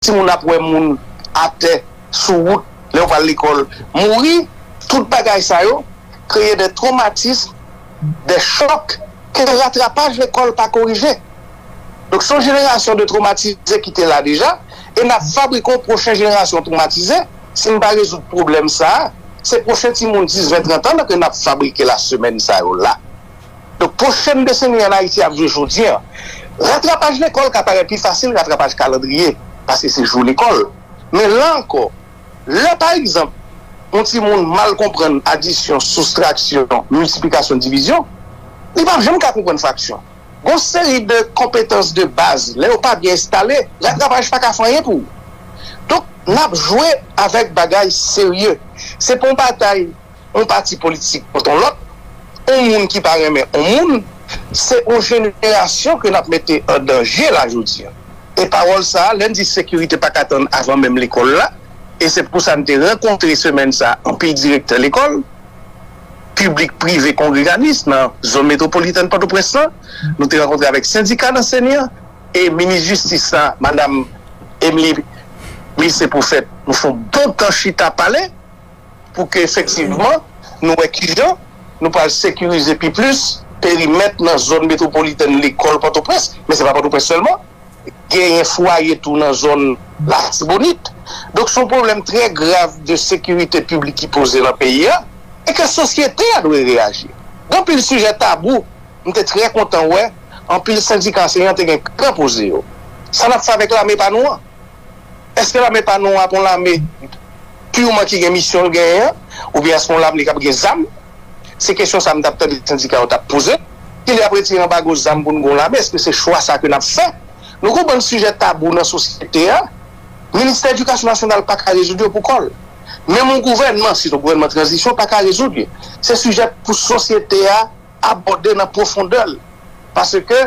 Timoun ap wè moun atè, sou wout, lè yo pral lekòl, mouri, tout bagay sa yo kreye dè twomatism, dè chòk ke ratrapaj lekòl pa korije. Donk se yon jenerasyon de twomatize ki te la deja e nap fabrike yon pwochen jenerasyon twomatize, si n pa rezoud pwoblèm sa, se pwochen timoun 10, 20, 30 an ke nap fabrike la semèn sa yo la. Donk pwochen deseni an Ayiti ap jwe jodi an. Ratrapaj lekòl ka parèt pi fasil ratrapaj kalandriye paske se jou lekòl. Men la ankò, lè pa egzanp yon timoun mal konprann adisyon, soustraksyon, miltiplikasyon, divizyon, li pap janm ka konprann fraksyon. Gon seri de konpetans de baz lè yo pa byen enstale, ratrapaj pa ka fè anyen pou ou. Donk n ap jwe avèk bagay serye. Se pa yon batay. yon pati politik kont yon lòt, yon moun ki pa renmen yon moun, se yon jenerasyon ke n ap mete an danje la jodi a. E pawòl sa a, lè n di sekirite pa ka tann avan menm lekòl la, e se pou sa n te rankontre semèn sa a anpil direktè lekòl, piblik, prive, kongreganis nan zòn metwopolitèn Pòtoprens lan, nou te rankontre avèk sendika lansenyan e minis jistis la, madam Emily Mice Prophète, nou fè yon bon tan chita pale. pou ke efektivman nou wè kijan nou pral sekirize pi plis perimèt nan zòn metwopolitèn lekòl Pòtoprens, men se pa Pòtoprens sèlman, genyen fwaye tou nan zòn Latibonit. Donk son pwoblèm trè grav de sekirite piblik ki poze nan peyi a e ke sosyete a dwe reyaji. Gen anpil sijè tabou, m te trè kontan wè anpil sendika anseyan te gen kran poze yo. Sa n ap fè avèk lame pa nou an? Eske lame pa nou a ap yon lame purman ki gen misyon l genyen an? Oubyen eske yon lame k ap gen zam? Se kesyon sa m t ap tande sendika yo t ap poze. Kilè y ap retire anbago zam pou n gen yon lame? Eske se chwa sa ke n ap fè? Nou gen yon bann sijè tabou nan sosyete a. Ministè Edikasyon Nasyonal pa ka rezoud yo pou kò l. Menm yon gouvènman, sitou gouvènman tranzisyon, pa ka rezoud yo. Se sijè pou sosyete a abòde nan pwofondè l paske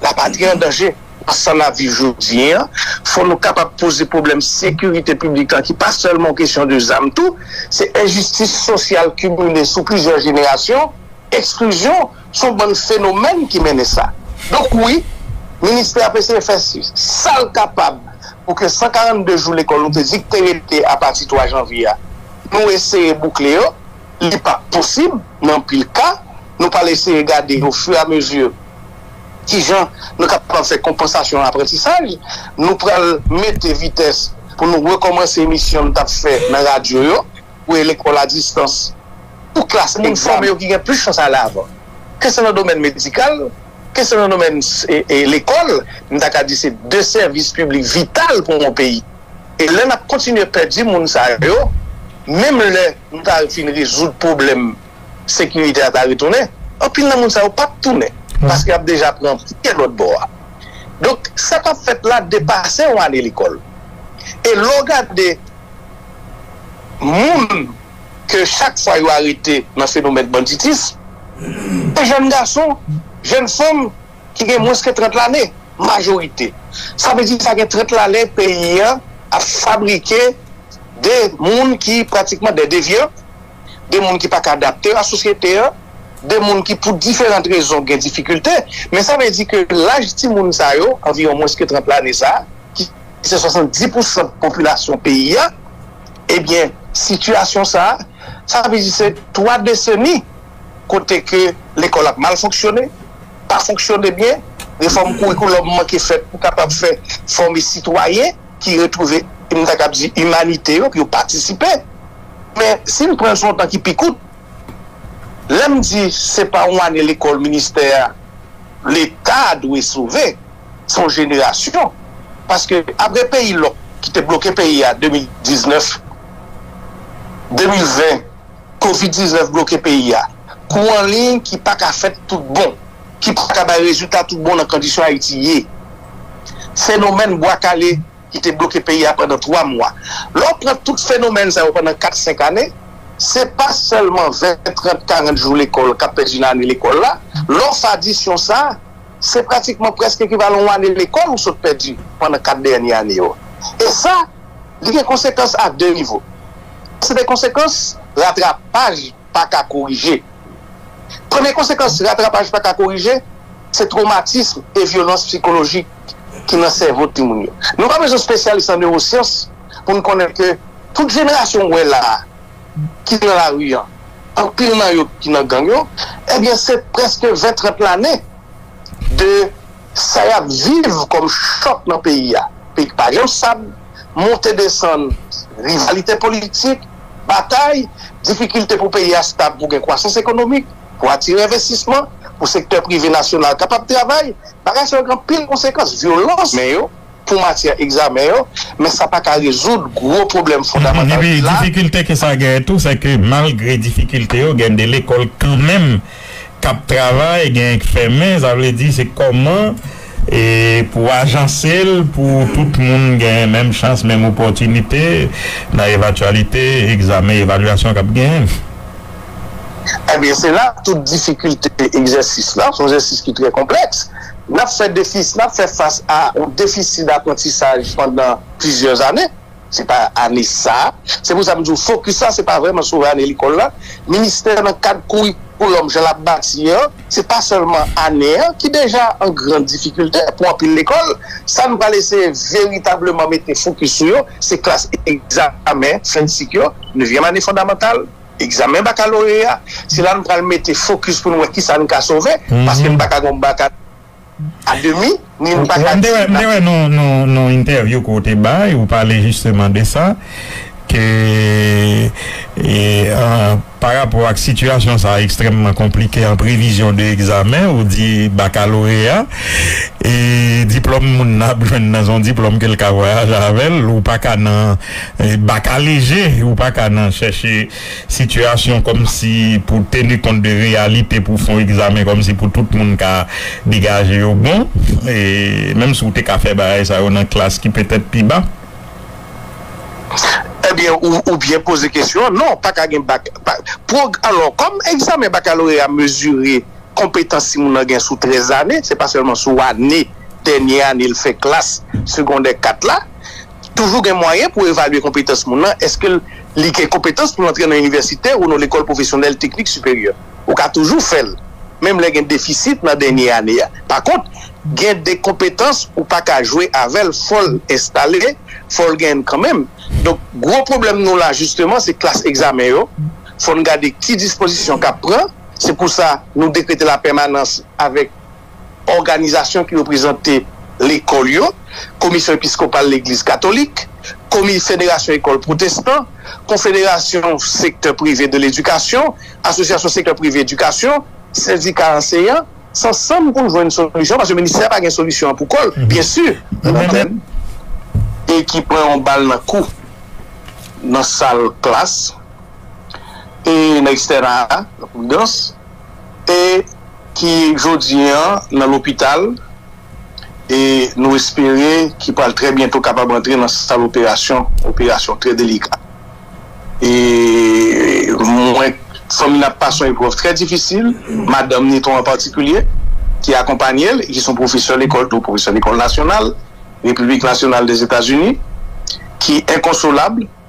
lapatri an danje. Nan sa n ap viv jodi an, fò nou kapab poze pwoblèm sekirite piblik la ki pa sèlman yon kesyon de zam tou, se enjistis sosyal kimile sou plizyè jenerasyon, eksklizyon, se yon bann fenomèn ki mennen sa. Donk wi, ministè ap eseye fè sa l kapab pou ke 142 jou lekòl nou te di k te rete apati 3 janvye a, nou eseye boukle yo. li pa p posib nan anpil ka. Nou pral eseye gade o fur et à mesure ki jan nou kapab fè konpansasyon aprantisaj. Nou pral mete vitès pou nou rekòmanse emisyon nou t ap fè nan radyo yo pou e lekòl a distans pou klas pou moun fòme yo ki gen plis chans ale avan. Ke se nan domèn medikal, ke se nan domèn lekòl, m ta ka di se de sèvis piblik vital pou yon peyi. e lè nap kontinye pèdi moun sa yo menm lè nou ta fin rezoud pwoblèm sekirite a ta retounen anpil nan moun sa yo pap tounen paske yap deja pran pye lòt bò a donk sa kap fèt la depase yon ane lekòl e lè w gade moun ke chak fwa yo arete nan fenomèn banditism se jèn gason jèn fanm. ki gen mwens ke 30 lane, majorite. Sa vle di sa gen 30 lane peyi a ap fabrike de moun ki pratikman de devyan, de moun ki pa ka adapte yo a sosyete a, de moun ki pou diferant rezon gen difikilte. Men sa vle di ke laj ti moun sa yo, anviwon mwens ke 30 lane sa, ki se 70 pou san popilasyon peyi a, ebyen sitiyasyon sa, sa vle di se 3 deseni. kote ke lekòl ap mal fonksyone, pa fonksyone byen, refòm kourikoulòm manke fèt pou kapab fè fòme sitwayen ki retwouve, m ta kab di, imanite yo, pou yo patisipe. Men, si n pran l sou yon tan ki pi kout, lè m di se pa yon ane lekòl ministè a, Leta a dwe sove, se yon jenerasyon. Paske, apre peyi lòk ki te bloke peyi a 2019, 2020, Covid 19 bloke peyi a. Kou an liy ki pa ka fèt tout bon, ki pa ka bay rezilta tout bon nan kondisyon Ayiti ye. Fenomèn Bwa Kale ki te bloke peyi a pandan 3 mwa. Lè w pran tout fenomèn sa yo pandan 4, 5 ane, se pa sèlman 20, 30, 40 jou lekòl k ap pèdi nan ane lekòl la. Lè w fè adisyon sa, se pratikman prèske ekivalan yon ane lekòl ou sot pèdi pandan kat dènye ane yo. E sa, li gen konsekans a de nivo. Se de konsekans ratrapaj pa ka korije. Premye konsekans ratrapaj pa ka korije, se twomatism e vyolans psikolojik ki nan sèvo timoun yo. Nou pa bezwen spesyalis an newosyans pou n konnen ke tout jenerasyon w wè la a, ki nan lari an, anpil nan yo ki nan gang yo, ebyen se prèske 20, 30 lane de sa yap viv kòm chòk nan peyi a. Peyi ki pa janm stab, monte desann, rivalite politik, batay, difikilte pou peyi a stab pou gen kwasans ekonomik, pou atire envestisman, pou sektè prive nasyonal kapab travay, bagay sa yo gen anpil konsekans, vyolans. pou matyè egzamen yo, men sa pa ka rezoud gwo pwoblèm fondamantal ki la. Difikilte ke sa genyen tou, se ke malgre difikilte yo, gen de lekòl kanmenm k ap travay, genyen k fèmen, sa vle di se kòman pou ajanse l pou tout moun genyen menm chans, menm opòtinite nan evatyalite egzamen evalyasyon k ap genyen. Ebyen se la tout difikilte egzèsis la, son egzèsis ki trè konplèks. N ap fè defis, n ap fè fas a yon defisi daprantisaj pandan plizyè ane. Se pa ane sa a. Se pou sa m di w fokis la se pa vrèman sou ane lekòl la. Ministè nan kad kourikoulòm jan l ap bati an, se pa sèlman ane an ki deja an gran difikilte pou anpil lekòl. Sa n pral eseye veritableman mete fokis sou yo, se klas egzamen fen sik yo, nevyèm ane fondamantal, egzamen bakaloreya, se la nou pral mete fokis pou nou wè kisa nou ka sove, paske nou pa ka gen yon baka a demi, ni nou pa ka di nap. M te wè yon entèvyou ke w te bay, ou pale jisteman de sa, ke pa rapò ak sitiyasyon sa ekstrèmman konplike an previzyon de egzamen, ou di bakaloreya, e diplòm moun nan ap jwenn nan se yon diplòm ke l ka vwayaje avè l, ou pa ka nan Baka lejè, ou pa ka nan chèche sitiyasyon kòmsi pou teni kont de reyalite pou fon egzamen kòmsi pou tout moun ka degaje yo bon, menm si ou te ka fè bagay sa yo nan klas ki petèt pi ba. Ebyen, ou byen poze kesyon an. Non, pa ka gen bak. Pwog. Alò, kòm egzamen bakaloreya mezire konpetans si moun nan gen sou 13 lane, se pa sèlman sou ane, dènye ane l fè klas segondè 4 la. toujou gen mwayen pou evalye konpetans moun lan, èske li gen konpetans pou l antre nan inivèsite ou nan lekòl pwofesyonèl teknik siperyè. Ou ka toujou fè l, menm lè gen defisit nan dènye ane a. Pakont, gen de konpetans ou pa ka jwe avè l, fò l enstale, fò l genyen l kanmenm. Donk, gwo pwoblèm nou la jisteman se klas egzamen yo. Fò n gade ki dispozisyon k ap pran. Se pou sa nou dekrete lapèmanans avèk. òganizasyon ki reprezante lekòl yo, Komisyon Episkopal Legliz Katolik, Komi federasyon Ekòl Pwotestan, Konfederasyon Sektè Prive de Ledikasyon, Asosyasyon Sektè Prive Edikasyon, Sendika Anseyan, s ansanm pou n jwenn solisyon paske ministè a pa gen solisyon an pou kò l byensi. Nan mwen menm, e ki pran yon bal nan kou nan sal klas e nan ekstèna a, nan Pwidans, e ki jodi an nan lopital e nou espere ki pral trè byento kapab antre nan sal operasyon, operasyon trè delika e mwen fanmi nan ap pase yon eprèv trè difisil, madanm Niton an patikilye ki akonpanye l e ki son pwofesè lekòl tou, pwofesè lekòl nasyonal Repiblik Nasyonal Dèzetazini ki enkonsolab.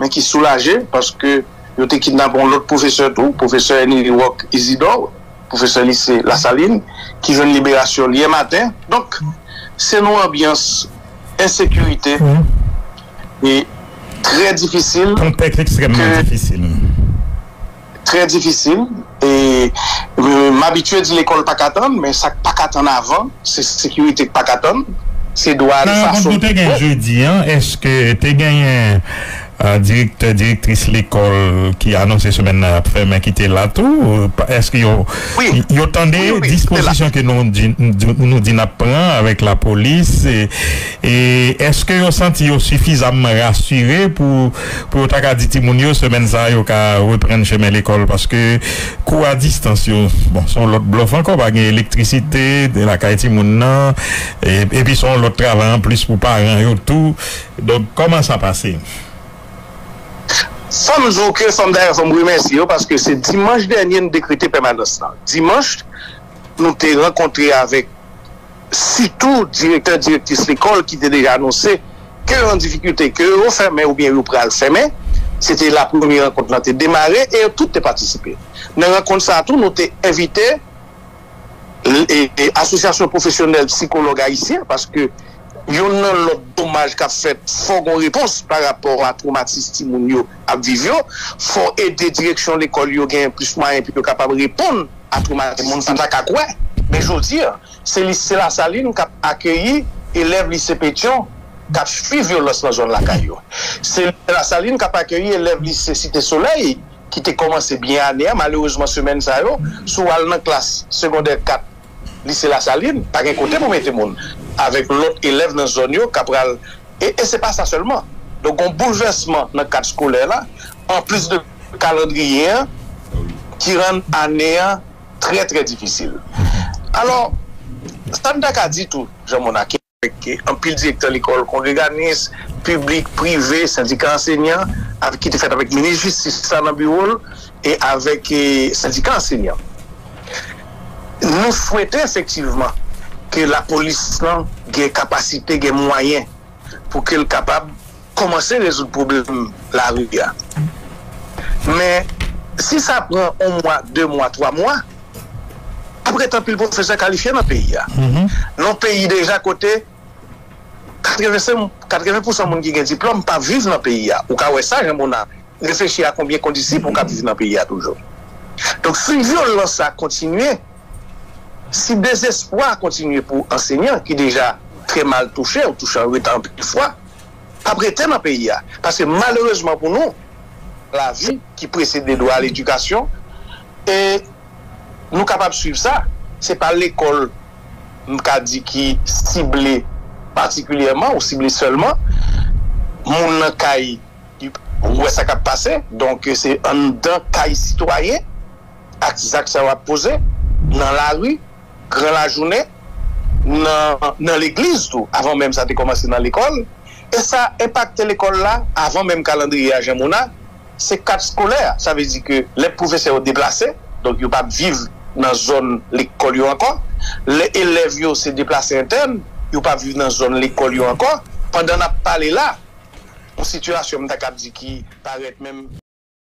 men ki soulaje paske yo te kidnape yon lòt pwofesè tou, pwofesè Henry Rock Isidore, pwofesè lise Lasalin, ki jwenn liberasyon l yè maten. Donk, se yon anbyans ensekirite e trè difisil ke. Kontèks ekstrèmman difisil. Trè difisil e m abitye di lekòl pa ka tann men sa k pa ka tann avan se sekirite k pa ka tann, se dwa nou fason pou te gen jodi an èske te genyen direktè direktris lekòl ki anonse semèn nan y ap fèmen ki te la tou èske yo tande dispozisyon ke nou di n ap pran avèk lapolis e èske yo santi yo sifizamman rasire pou pou yo ta ka di timoun yo semèn sa yo ka reprann chemen lekòl paske kou a distans yo bon son lòt blòf ankò pa gen elektrisite lakay timoun nan epi son lòt travay anplis pou paran yo tou donk kòman sa pase. Fòm di w ke fòm dayè fòm remèsye yo paske se dimanch dènye nou dekrete pèmanans lan dimanch nou te rankontre avèk. sitou direktè direktris lekòl ki te deja anonse ke yo an difikilte, ke yo fèmen oubyen yo pral fèmen, se te la premye rankont lan te demare e yo tout te patisipe nan rankont sa tou nou te envite asosyasyon pwofesyonèl psikològ ayisyen paske yonn nan lòt domaj kap fèt fò gon repons pa rapò a twomatis timoun yo ap viv yo fò ede direksyon lekòl yo genyen plis mwayen pou yo kapab reponn a twomatize moun sa m pa ka kwè men jodi a se lise lasalin kap akeyi elèv lise petyon kap fwi vyolans nan zòn lakay yo se lise lasalin kap akeyi elèv lise site solèy ki te kòmanse byen ane a malerezman semèn sa yo si w al nan klas segondè 4 lise lasalin pa gen kote pou mete moun avèk lòt elèv nan zòn yo ka pral e se pa sa sèlman donk gon boulvèsman nan kad skolè la anplis de. kalandriye an ki rann ane an trè trè difisil. Alò, sa n ta ka di tou, Jan Monaken, ke anpil direktè lekòl kongreganis, piblik, prive, sendika ansenyan avèk ki te fèt avèk minis jistis la nan biwo l e avèk sendika ansenyan nou swete efektivman ke lapolis lan gen kapasite, gen mwayen pou ke l kapab kòmanse rezoud pwoblèm lari a. Men, si sa pran on mwa, de mwa, twa mwa, ap ret anpil pwofesè kalifye nan peyi a. Nan on peyi deja kote 80 pousan moun ki gen diplòm pa viv nan peyi a. Ou ka wè sa, jan moun ap reflechi a konbyen kondisip ou kab viv nan peyi a toujou. Donk, si vyolans sa kontinye, si dezespwa kontinye pou ansenyan ki deja trè mal touche, ou touche anreta anpil fwa, ap rete nan peyi a paske malerezman pou nou lavi ki presede dwa a ledikasyon e nou kapab swiv sa se pa lekòl m ka di ki sible patikilyèman ou sible sèlman moun nan kay li wè sa k ap pase donk se anndan kay sitwayen ak zak sa yo ap poze nan lari. gran lajounen, nan legliz tou, avan menm sa te kòmanse nan lekòl, e sa enpakte lekòl la avan menm kalandriye a jan moun a, se kat skolè a, sa vle di ke lè pwofesè yo deplase, donk yo pap viv nan zòn lekòl yo ankò, lè elèv yo se deplase entèn, yo pap viv nan zòn lekòl yo ankò, pandan n ap pale la, yon sitiyasyon m ta kab di ki parèt menm.